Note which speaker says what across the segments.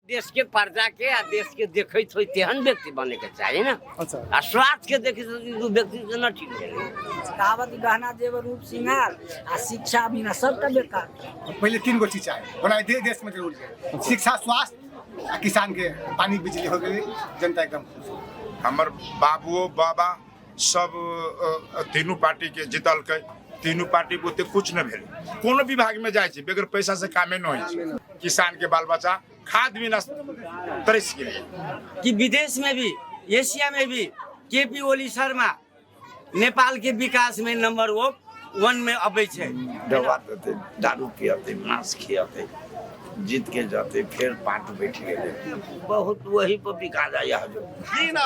Speaker 1: देश के प्रजा के आ देश के देखैत होई तेहन व्यक्ति बने के चाही ना अच्छा आ स्वार्थ के देखी तो ई दू व्यक्ति से न ठीक है कहावत कि गहना जेवर रूप श्रृंगार आ शिक्षा बिना सबका बेकार पहिले तीन गो चीज चाही ओना दे देश में जरूर छै शिक्षा स्वास्थ्य आ किसान के पानी बिजली हो गेलै जनता एकदम खुश हमर बाबुओ बाबा सब तीनू पार्टी के जीतलकै तीनू पार्टी के ओते कुछ न भेल कोनो विभाग में जाए छै बेगर पैसा से कामे न होइ छै किसान के बाल बच्चा खाद बिना तरस गेलै कि विदेश में भी एशिया में भी के पी ओली शर्मा नेपाल के विकास में नंबर वो वन में अबै छै दवा देतै दारू पियतै मांस खियतै जीत के जतै फेर पार्ट बैठ गेलै बहुत वही पर बिका जाइए हजू जी ना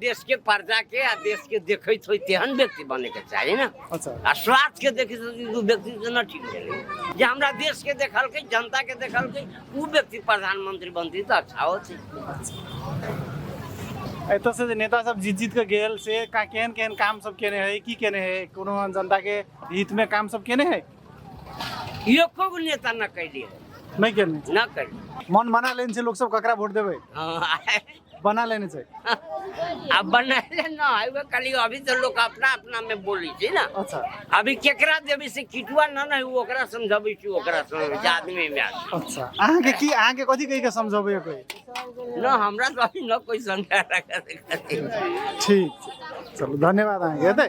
Speaker 1: देश के प्रजा के आ देश के देखैत होई तेहन व्यक्ति बने के चाहिए ना अच्छा आ स्वार्थ के देखी तो उ व्यक्ति से न ठीक है जे हमरा देश के देखल के जनता के देखल के उ व्यक्ति प्रधानमंत्री बनती तो अच्छा होती एतऽ से जे नेता सब जीत जीत के गेल से का केहन केहन काम सब केने है की केने है कोनो जनता के हित में काम सब केने है एको गो नेता न कैली है, नहीं केने न कैली मन बना लेन से लोग सब ककरा वोट देवे हाँ, बना लेने छै आ बनाइले न है वो खाली अभी तो लोग अपना अपना में बोली छी ना अच्छा अभी केकरा देवी से किटुआ न न है वो ओकरा समझाबै छी ओकरा समझ जे आदमी में आदमी। अच्छा अहाँ के की अहाँ के कथी कहि के समझबै कोई न हमरा तो अभी न कोई समझा रखा ठीक छै चलू धन्यवाद अहाँके हेतै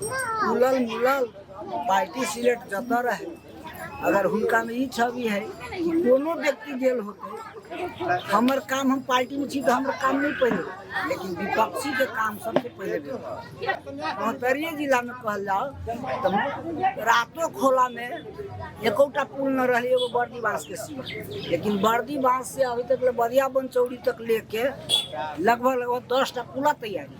Speaker 1: खुलल मिलल पार्टी सिलेक्ट जतऽ रहे अगर हुनका में ई छवि है कि कोनो व्यक्ति जेल होते हमर काम हम पार्टी में छी तो हमर काम नहीं पहले लेकिन विपक्षी के काम सबसे पहले बहतरिये जिला में कहल जाओ तो रातो खोला में एकोटा पुल न रहे एगो बर्दी बांस के सीमा लेकिन बर्दी बांस से अभी तक ले बदिया बन चौड़ी तक लेके लगभग लगभग दस टा पुला तैयारी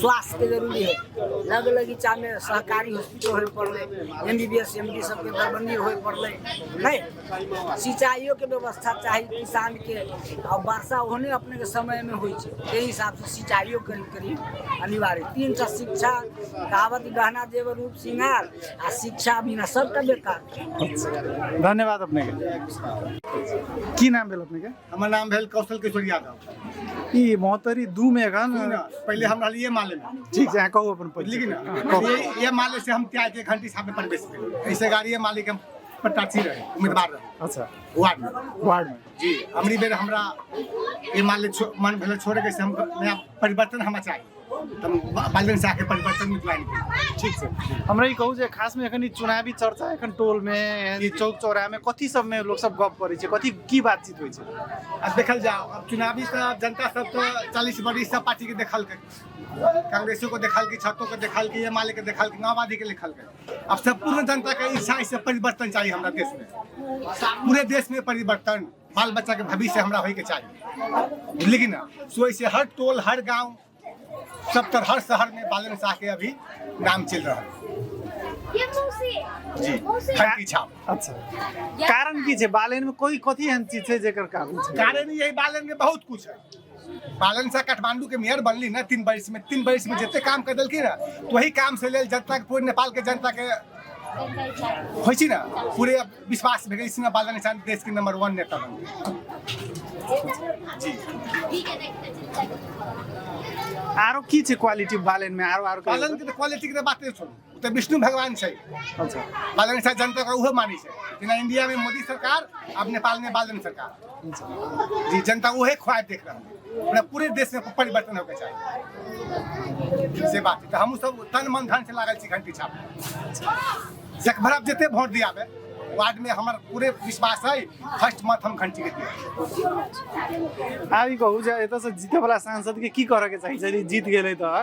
Speaker 1: स्वास्थ्य के जरूरी है लग लगी चा में सहकारी हॉस्पिटल होय पड़ले M B B S M D सबके दरबंदी होय पड़ले नहीं सिंचाइयो के व्यवस्था चाही किसान के और वर्षा होने अपने के समय में होई छै ते हिसाब से सिंचाइयो करी करी अनिवार्य तीन टा शिक्षा कहावत गहना जेब रूप श्रृंगार आ शिक्षा बिना सबटा बेकार धन्यवाद अपने के की नाम भेल अपने के हमर नाम भेल कौशल किशोर यादव ई मोहतरी दू में एखन सुनू ना, पहिले हम रहलियै माले में ठीक छै अहाँ कहू अपन बुझलियै कि परिचय ना कहू। ये ये माले से हम त्याग के घंटी साहब में प्रवेश भेल ऐसे गाड़ी ये माले के हम प्रत्याशी रहे उम्मीदवार रहे अच्छा वार्ड में वार्ड में जी हमरी बेर हमरा ये माले छो- मन भेल छोड़े के से हम नया परिवर्तन हमरा चाही बालजन से आके परिवर्तन में ज्वाइन करी ठीक से हमरा ई कहू जे खास में एखन ई चुनावी चर्चा एखन टोल में यानी चौक चौराहा में कथी सब में लोग सब गप करै छै कथी की बातचीत होइ छै अब देखल जाओ अब चुनावी तो जनता सब तो चालीस बरीस सब पार्टी के देखल के कांग्रेसो को देखल की छतो के देखल की एम के देखल की माओवादी के लिखल के अब सब पूर्ण जनता के इच्छा इस परिवर्तन चाहिए हमारा देश में पूरे देश में परिवर्तन बाल बच्चा के भविष्य हमरा होय के चाहिए बुझलिए कि ना सो ऐसे हर टोल हर गांव सब तर हर शहर में बालन शाह के अभी नाम चल रहा है ये मौसी जी मौसी धरती छाप अच्छा कारण की छै बालेन में कोई कथी एहन चीज छै जेकर कारण छै कारण यही बालन में बहुत कुछ है पालन से काठमांडू के मेयर बनली ना तीन बरिस में तीन बरिस में जते काम कर देलखिन ना तो वही काम से लेल जनता के पूरे नेपाल के जनता के होइ छी ना पूरे विश्वास भेल सिंह बाल निशान देश के नंबर वन नेता बन जी ठीक है देखते चिंता करो। आरो की छै क्वालिटी बालन में आरो आरो पालन के क्वालिटी के बात छोड़ू ओ तऽ विष्णु भगवान छै अच्छा बालन शाह जनता का उहो मानी छै जेना इंडिया में मोदी सरकार अब नेपाल में बालन सरकार जी जनता उहे ख्वाब देख रहा है पूरा पूरे देश में परिवर्तन होके चाहिए से बात है तो हमहूँ सब तन मन धन से लागल छी घंटी छाप जकभर जते वोट दियाबे वार्ड में हमार पूरे विश्वास है फर्स्ट मत हम घंटी के दिया आब ई कहू जे एतयसँ जीतयवला सांसदके की करयके चाही यदि जीत गेलै तऽ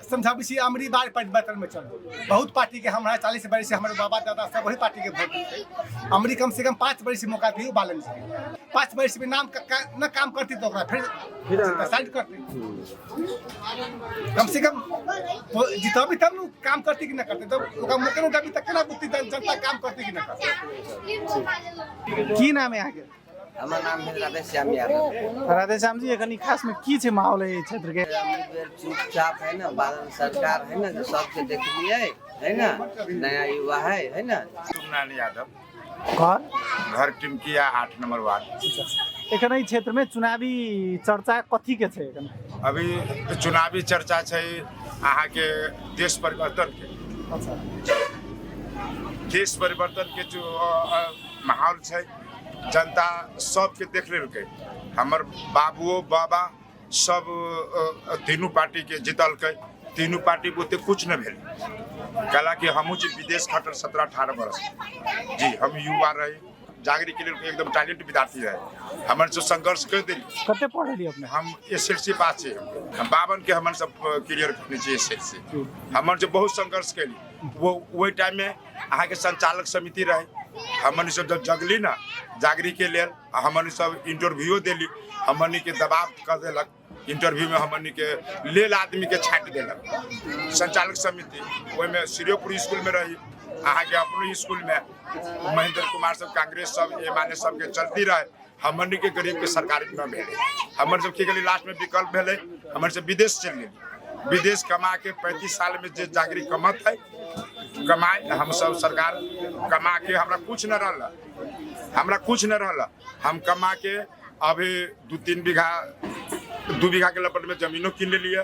Speaker 1: समझाबै छी अमरी बार परिवर्तनमे चल बहुत पार्टीके हमरा चालीस बरिस हमर बाबा दादा सब वही पार्टीके वोट देतै अमरी कमसँ कम पाँच बरिस मौका दियौ बालन जी पाँच बरिस भी नाम का- का- न काम करती तो ओकरा फिर साइड करती कम से कम वो जितबी तब ने काम करती कि न करती तब ओकरा मौका नहि देबी तऽ केना बुझती जन- जनता काम करती कि न करती की नाम है अहाँके हमर नाम भेल राधे श्याम यादव राधे श्याम जी एखन ई खास में की छै माहौल है क्षेत्र के चुपचाप है ना बादल सरकार है ना जो सबके देखलिए है ना नया युवा है है ना सुमनान यादव घर घर टिमकिया आठ नंबर वार्ड एखन ई क्षेत्र में चुनावी चर्चा कथी के छै एखन अभी चुनावी चर्चा छै अहाँ के देश परिवर्तन के अच्छा देश परिवर्तन के जो अ, अ, माहौल छै जनता सबके देख लेलकै हमर बाबुओ बाबा सब अ, अ, तीनू पार्टीके जितलकै तीनू पार्टी बुते कुछ नहि भेल कला कि हमहूँ छी विदेश खटल सत्रह अठारह बरस जी हम युवा रही जागरी के लेल एकदम टैलेंट विद्यार्थी रहे हमन से संघर्ष कर देली कते पढ़ली अपने हम एस एल सी पास छी हम बावन के हमन सब क्लियर करने छी एस एल सी हमन से बहुत संघर्ष कैली वो वही टाइम में अहाँ के संचालक समिति रहे हमन सब जब जगली ना जागरी के लेल आ हमन सब इंटरव्यूओ देली हमन के दबाव कर देलक इंटरव्यू में हमन के लेल आदमी के छाट देलक संचालक समिति ओहि में श्रीपुर स्कूल में रही अहाँ के अपने स्कूल में महेंद्र कुमार सब कांग्रेस सब एम एल ए सब के चलती रहे हमन के गरीब के सरकार न भेले हमन सब की गली लास्ट में विकल्प भेले हमन सब विदेश चल गए विदेश कमा के पैंतीस साल में जे जागरी कमत है कमाए हम सब सरकार कमा के हमरा कुछ न रहल हमरा कुछ न रहल हम कमा के अभी दू तीन बीघा दू बीघा के लपट में जमीनो कीन लेलिए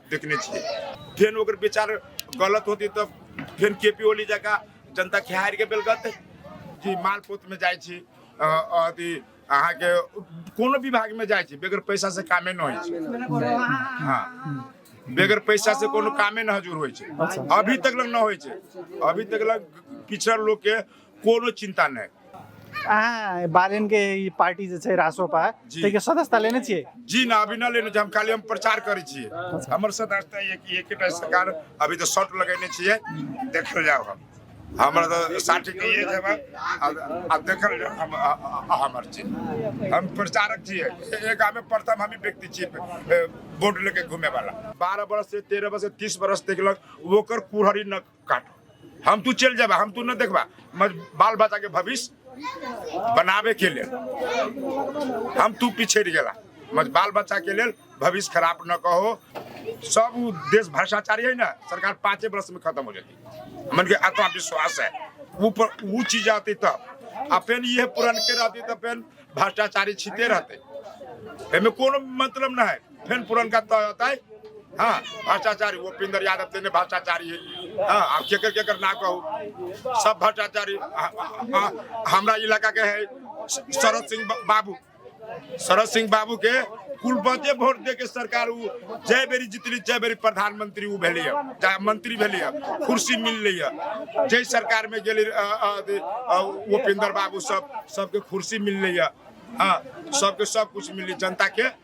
Speaker 1: देखने छियै फेन ओकर विचार गलत होती तऽ फेन के पी ओली जकाँ जनता खेहारि के बेलगत जी मालपोत में जाइ छी अ, अथी अहाँके कोनो विभाग में जाइ छी बेगर पैसा से कामे न होइ छै हाँ बेगर पैसा से कोनो कामे न हजूर होइ छै अभी तक लग न होइ छै अभी तक लग पिछड़ल लोग के कोनो चिन्ता नहि अहाँ बालेन के ई पार्टी जे छै रासोपा जी। ताहिके सदस्यता लेने छियै जी ना अभी ना लेने छी हम खाली हम प्रचार करै छियै हमर सदस्यता ये कि एकेटा सरकार अभी तऽ शॉर्ट लगेने छियै देखल जाओ हम हमर तऽ साठी के ये जेबा आ देखल जाओ हम आ- आ- आ- हमर छी हम प्रचारक छियै ए- ए गामे प्रथम हमी व्यक्ति छियै ए, वोट लेके घूमे वाला बारह बरस से तेरह बरस से तीस बरस देखलक ओकर कुहरी न काट हम तू चल जाबा हम तू न देखबा मज बाल बच्चा के भविष्य बनावे के लेल हम तू पीछे रह गेला मज बाल बच्चा के लेल भविष्य खराब न कहो सब उ देश भ्रष्टाचारी है ना सरकार पाँचे वर्ष में खत्म हो जाती मन के आत्मा विश्वास है वो पर वो चीज आती तब आ फेन ये पुरन के रहती तब फेन भ्रष्टाचारी छिते रहते एमे कोनो मतलब ना है फिर पुरनका तय होतै हाँ भ्रष्टाचारी वो पिंदर यादव तेने भ्रष्टाचारी है हाँ आप केकर केकर ना कहू सब भ्रष्टाचारी आ- आ- आ- हमरा इलाका के है श- शरद सिंह बा- बाबू शरद सिंह बाबू के कुल बचे वोट दे के सरकार उ जय बेरी जितली जय बेरी प्रधानमंत्री उ भेली है चाहे मंत्री भेली है कुर्सी मिल रही है जय सरकार में गेली अ, अ, अथी, अ, वो पिंदर बाबू सब सबके कुर्सी मिल रही है हाँ सबके सब कुछ मिली जनता के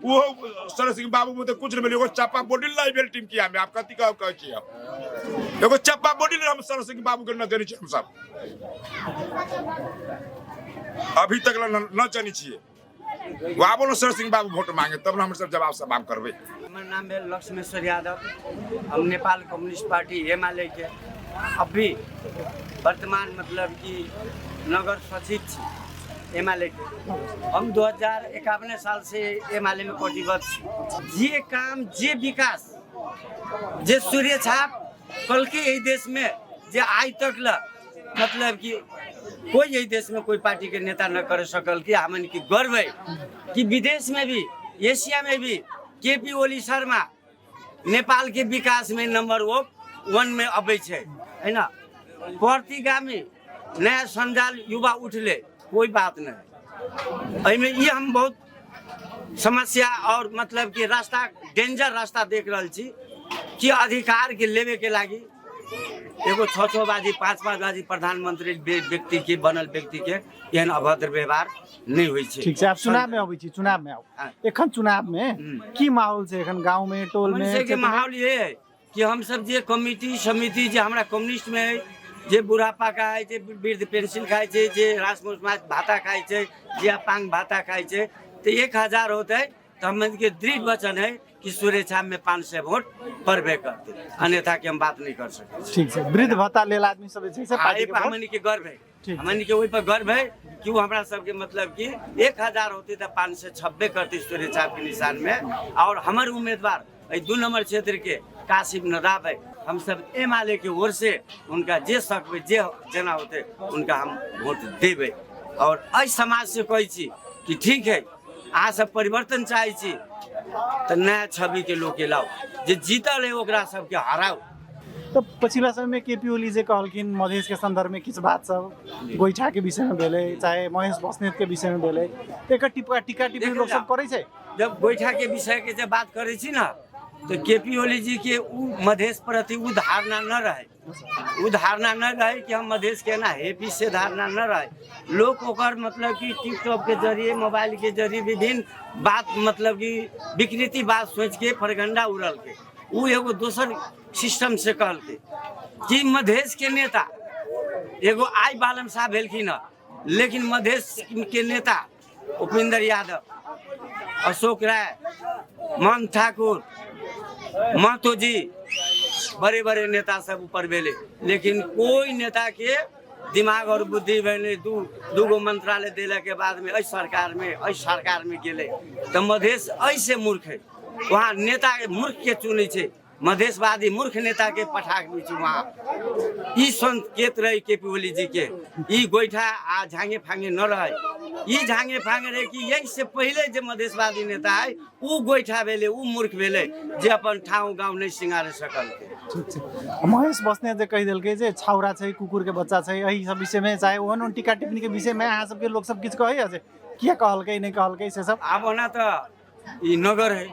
Speaker 1: वो सरस सिंह बाबू मुझे कुछ नहीं मिले एगो चप्पा बोडिल ना भेल टीम किया में आप कथी कह कह छी हम एगो चप्पा बोडिल हम सरस सिंह बाबू के न देने छी हम सब अभी तक ला न न जानी छिए वो आबो न सरस सिंह बाबू वोट मांगे तब न हम सब जवाब सवाब करबे हमर नाम भेल लक्ष्मेश्वर यादव हम नेपाल कम्युनिस्ट पार्टी एमाले के अभी वर्तमान मतलब कि नगर सचिव छी एम एल ए हम दू हजार एकावने साल से एम एल ए में प्रतिबद्ध छी जे काम जे विकास जे सूर्य छाप कल के एहि देश में जे आइ तक ल मतलब कि कोई यही देश में कोई पार्टी के नेता न कर सकल कि हमन की गर्व है कि विदेश में भी एशिया में भी के पी ओली शर्मा नेपालके विकासमे नम्बर ओ वनमे अबै छै होइन प्रतिगामी नया सञ्जाल युवा उठले कोई बात नहीं एहिमे ई हम बहुत समस्या और मतलब कि रास्ता डेंजर रास्ता देख रहल छी कि अधिकार के लेवे के लागी एगो छः छः बाजी पाँच पाँच बाजी प्रधानमंत्री बे- व्यक्ति के बनल व्यक्ति के एहन अभद्र व्यवहार नहि होइ छै ठीक छै आब चुनाव मे अबै छी चुनाव मे आउ एखन चुनाव मे की माहौल छै एखन गाँव मे टोल मे के माहौल ये है कि हम सब जे कमिटी समिति जे हमरा कम्युनिस्ट मे है जे बुढ़ापा खाइ छै वृद्ध पेंशन खाइ छै जे रासमोस माछ भाता खाइ छै जे अपांग भाता खाइ छै तऽ एक हजार होतै तऽ हमन के दृढ़ वचन है कि सुरेक्षा में पाँच सौ वोट पड़बे करते अन्यथा के हम बात नहीं कर सकते ठीक है वृद्ध भत्ता लेल आदमी सब जे छै से पार्टी के हमन के गर्व है हमन के ओहि पर गर्व है कि वो हमरा सबके मतलब कि एक हजार होती तो पाँच सौ छब्बे करती सूर्य छाप के निशान में और हमारे उम्मीदवार अइ दू नंबर क्षेत्र के कासिम नदाब है हम सब एम आल ए के ओर से उनका जे सकबे जे जना होते उनका हम वोट देबे और अइ समाज से कहै छी कि ठीक है अहाँ सब परिवर्तन चाहै छी तऽ नया छवि के लोग के लाउ जे जीतल है ओकरा सबके हराउ तऽ पछिला समयमे के पी ओली जे कहलखिन मधेशके सन्दर्भमे किछु बात सब गोइठाके विषयमे भेलै चाहे महेश बस्नेतके विषयमे भेलै तऽ एकर टिप्पा टीका टिप्पणी लोक सब करै छै जब गोइठाके विषयके जब बात करै छी ने तऽ के पी ओली जीके ओ मधेश प्रति ओ धारणा न रहै ओ धारणा न रहै कि हम मधेश के ना है पीस से धारणा न रहै लोग ओकर मतलब कि टिकटॉक के जरिए मोबाइल के जरिए विभिन्न बात मतलब कि विकृति बात सोच के फरगंडा उड़ल के ओ एगो दोसर सिस्टम से कहलकै कि मधेश के नेता एगो आइ बालम साहब भेलखिन हँ लेकिन मधेश के नेता उपेंद्र यादव अशोक राय मान ठाकुर महतो जी बड़े बड़े नेता सब ऊपर भेले लेकिन कोई नेता के दिमाग और बुद्धि भेलै दू दूगो मंत्रालय देला के बाद में एहि सरकार में एहि सरकार में गेलै तऽ मधेश एहि से मूर्ख है वहाँ नेता के मूर्ख के चुनै छै मधेशवादी मूर्ख नेता के पठा के छै वहाँ ई संकेत रहे के पी ओली जी के ई गोइठा आ झांगे फांगे न रहे ई झांगे फांगे रहे कि यही से पहले जे मधेशवादी नेता है ओ गोइठा भेलै ओ मूर्ख भेलै जे अपन ठाव गाँव नहि सिंगारे सकल ठीक छै महेश बस्ने जे कहि देलकै जे छाउरा छै कुकुर के बच्चा छै एहि सब विषय में चाहे ओहन ओहन टीका टिप्पणी के विषय में अहाँ सबके लोक सब किछु कहैया जे किया कहलकै नहि कहलकै से सब आब ओना तऽ ई नगर है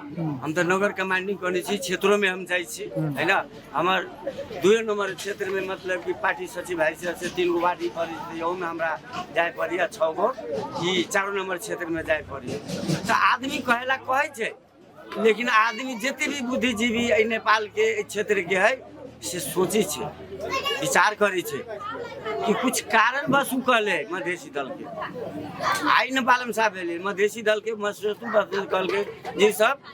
Speaker 1: हम तऽ नगर कमांडिंग करै छी क्षेत्रोमे हम जाइ छी है ना हमर दुए नम्बर क्षेत्रमे मतलब कि पार्टी सचिव भाइ छ से तिन गो वार्ड ई पड़ै छै ओहूमे हमरा जाय पड़ैए छओ गो ई चारो नम्बर क्षेत्रमे जाय पड़ैए तऽ आदमी कहै लए कहै छै लेकिन आदमी जते भी बुद्धिजीवी एहि नेपालके एहि क्षेत्रके है से सोचै छै विचार करै छै कि कुछ कारणवश ओ कहलै मधेसी दलके आइ ने बालम साहब भेलै मधेसी दलके मधेसी दल कहलकै जे ई सब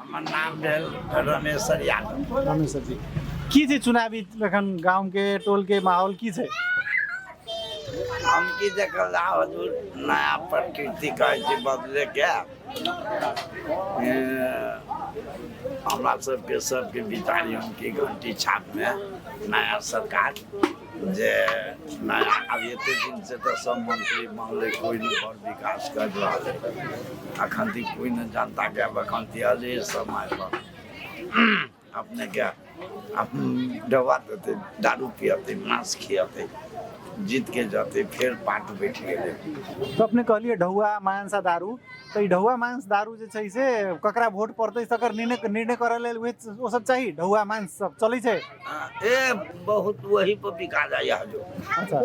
Speaker 1: हमर नाम भेल रमेश्वर यादव रमेश्वर जी की छै चुनावी एखन गामके टोलके माहौल की छै हम की देखल जा हजूर नया प्रकृति कहै छै बदलेके हमरा सबके सबके विचारी हम की घंटी छापमे नया सरकार जे नया आब एतेक दिनसँ तऽ सब मंत्री मानले कोइ नहि बड़ विकास कर रहल है अखन तक कोइ नहि जनताके आब अखन तक अले समय पर अपनेके आब डबा देतै दारू पियतै मांस खियतै जीतके जतै फेर पार्ट बैठ गेलै तऽ अपने कहलियै ढौआ मांस आ दारू तऽ ई ढौआ मांस दारू जे छै से ककरा वोट पड़तै तकर निर्णय निर्णय करऽ लेल उहे ओ सब चाही ढौआ मांस सब चलै छै ए बहुत वही पर बिका जाइए हजू अच्छा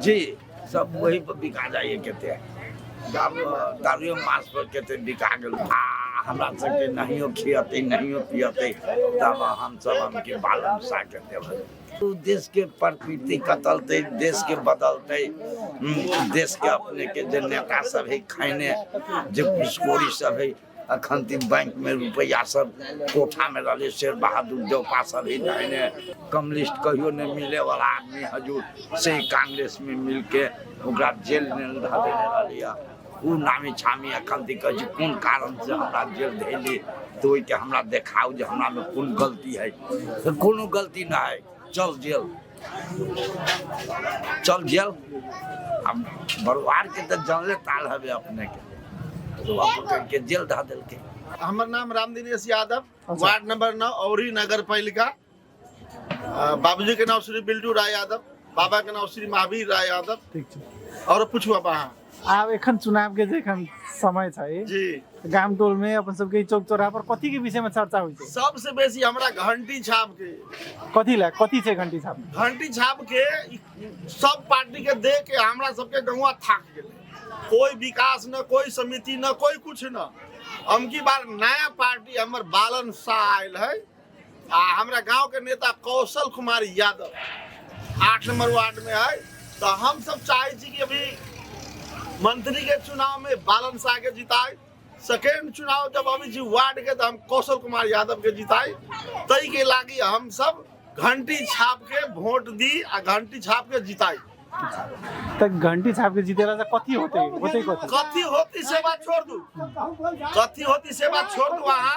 Speaker 1: जी सब वही पर बिका जाइए कते दाम दारुए मास पर कते बिका गेल आ हमरा सबके नहियो खियते नहियो पियते तब हमसब हमके बाल बच्चा के देबै उ देश के प्रकृति कतलते देश के बदलते हम्म, देश के अपने के जे नेता सब है खाने जे घुसखोरी सब है अखन तीन बैंक में रुपया सब कोठा में रहले शेर बहादुर जौपा सब ही दाहिने कम्युनिस्ट कहियो नहीं मिले वाला आदमी हजूर से ही कांग्रेस में मिल के ओकरा जेल में धऽ देने रहली हँ। ऊ नामी छामी अखन ती कहै छै कोन कारण से हमरा जेल धैली तऽ ओहिके हमरा देखाउ जे हमरा में कोन गलती है तऽ कोनो गलती ना है चल जेल चल गेल हम बरुआर के तो जानले ताल हवे अपने के तो बाबू कह के जेल धा दिल के हमर नाम रामदिनेश यादव वार्ड नंबर नौ औरी नगर पालिका अ, बाबूजी के नाम श्री बिल्टू राय यादव बाबा के नाम श्री महावीर राय यादव ठीक छै और पूछू आप अहाँ आब एखन चुनाव के जे एखन समय छै जी गाम टोल में अपन सबके ई चौक चौराहा पर कथी के विषय में चर्चा होइ छै सबसे बेसी हमरा घंटी छाप के कथी ला कथी छै घंटी छाप में? घंटी छाप के ई सब पार्टी के दे के हमरा सबके गौवा थाक गेलै कोई विकास न कोई समिति न कोई कुछ न अमकी बार नया पार्टी हमर बालन शाह आयल है आ हमरा गांव के नेता कौशल कुमार यादव आठ नंबर वार्ड में है तो हम सब चाहे छी कि अभी मंत्री के चुनाव में बालन शाह के जिताए सेकेंड चुनाव जब अभी जी वार्ड के तो हम कौशल कुमार यादव के जिताए तई के लागी हम सब घंटी छाप के वोट दी आ घंटी छाप के जिताई त घंटी छाप के जितेला त कथी होते होते कथी कथी होती से बात छोड़ दू कथी होती से बात छोड़ दू वहाँ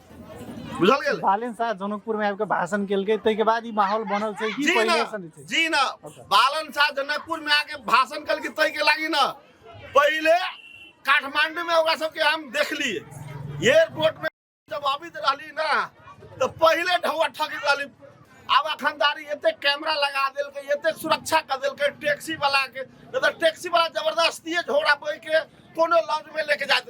Speaker 1: बुझल गेल बालन शाह जनकपुर में आबिके भाषण केलकै ताहिके बाद ई माहौल बनल छै की जी पहिले ना सन छै जी ना बालन शाह जनकपुर में आके भाषण कल के तय के लागी ना पहले काठमांडू में ओकरा सबके हम देखली एयरपोर्ट में जब अबित रहली ना तो पहले ढौआ ठगी रहली आब अखनदारी एते कैमरा लगा देलकै एते सुरक्षा कर देलकै टैक्सी वाला के नहीं तो टैक्सी वाला जबरदस्ती झोरा बोल के कोनो लॉन्च में लेके जात रहे